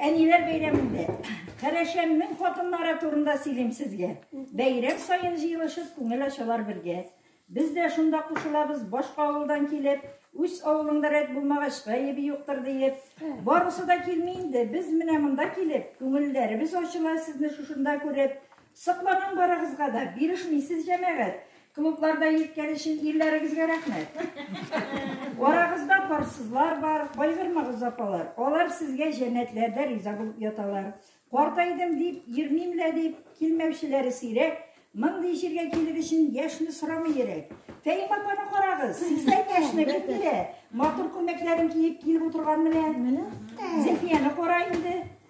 Әниләр бәйрәмендә Кәрәшәннең хатыннары турында сөйлим сезгә. Бәйрәм саен җыелышып күңел ачалар бергә. Без дә шунда кушылабыз, башка авылдан килеп, үз авылыңда рәт булмагач, гаебе юктыр диеп. Барысы да килми инде, без менә монда килеп, күңелләребез ачыла сезне шушында күреп. Сокланам барыгызга да, бирешмисез җәмәгать. Клубларда йиткән өчен ирләрегезгә рәхмәт. Арагызда парсызлар бар, кайгырмагыз апалар. Алар сезгә җәннәтләрдә риза булып яталар. Картайдым дип, йөрмим лә дип, килмәүчеләре сирәк. Мондый җиргә килер өчен яшьне сорамый йөрәк. Фәим апаны карагыз, сездә яшьне бик бирә. Матур күлмәкләрен киеп килеп утырган менә. Зөлфияне кара инде.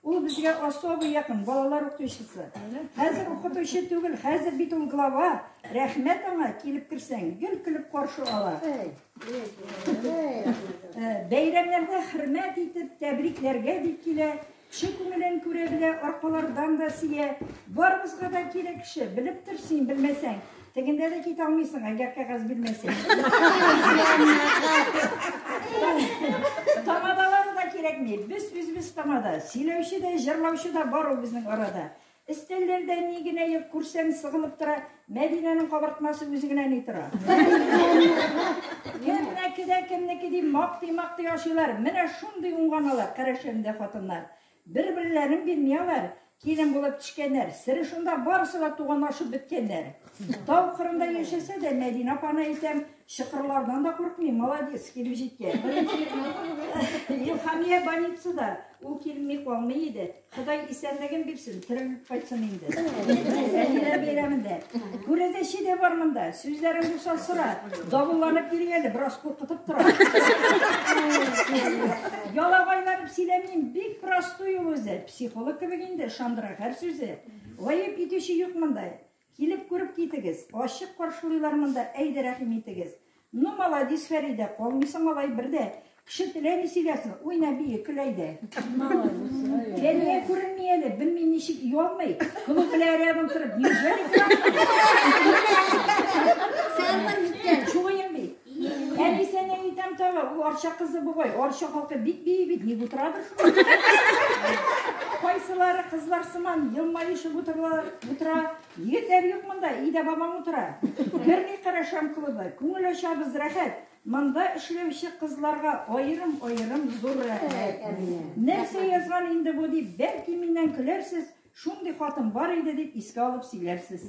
Ул безгә особый якын, балалар укытучысы. Хәзер укытучы түгел, хәзер бит ул глава. Рәхмәт аңа, килеп керсәң, гел көлеп каршы ала. Э, бәйрәмнәрдә хөрмәт итеп, тәбрикләргә дип килә. Кеше күңелен күрә белә, аркалардан да сия. Барыбызга да кирәк кеше, белеп тор син, белмәсәң. Тегендә дә кит алмыйсың, әгәр кәгазь бирмәсәң. Тамадалары да кирәкми. Без үзебез тамада. Сөйләүче дә, җырлаучы да бар ул безнең арада. Истәлләрдә ни генә юк күрсәң сыгылып тора, Мәдинәнең кабартмасы үзе генә ни тора. Кемнеке дә кемнеке дип мактый-мактый ашыйлар. Менә шундый уңганалар, карашәмдә хатыннар. Бер берләрен бирми алар, килен булып тишкәннәр. Сере шунда, барысы да туганлашып беткәннәр. Тау кырында яшәсә дә, Мәдинә апаны әйтәм, чокырлардан да куркмый, молодец, килеп җиткән. Илхамия больницада, ул килми калмый иде. Ходай исәнлеген бирсен, терелеп кайтсын инде. Әниләр бәйрәмендә. Күрәзәче дә бар монда, сүзләрен булса сора. Давылланып йөри әле, бераз куркытып тора. Ялабайлар Сөйләмим, бик простой ул үзе. Психолог кебек инде, ышандыра һәр сүзе. Гаеп итүче юк монда. Килеп күреп китегез. Ачык каршылыйлар монда, әйдә рәхим итегез. Ну, молодец, Фәридә, калмыйсың алай бердә. Кеше теләми сөйләсен, уйна бии, көл әйдә. Фәрия күренми әле, белми ничек ялмый. Клуб белән рядом торып, неужели Сәлмән икән. Чугыем бит. Әнисен әйтәм тагы, ул арча кызы бугай. Арча халкы бик бии бит, ник утырадыр? Кайсылары кызлар сыман елмаешып утыралар, утыра. Егетләр юк монда, өйдә бабаң утыра. Керми карашам клубы, күңел ачабыз рәхәт. Монда эшләүче кызларга аерым-аерым зур рәхмәт. Нәрсә язган инде бу дип, бәлки миннән көләрсез, шундый хатын бар иде дип искә алып сөйләрсез.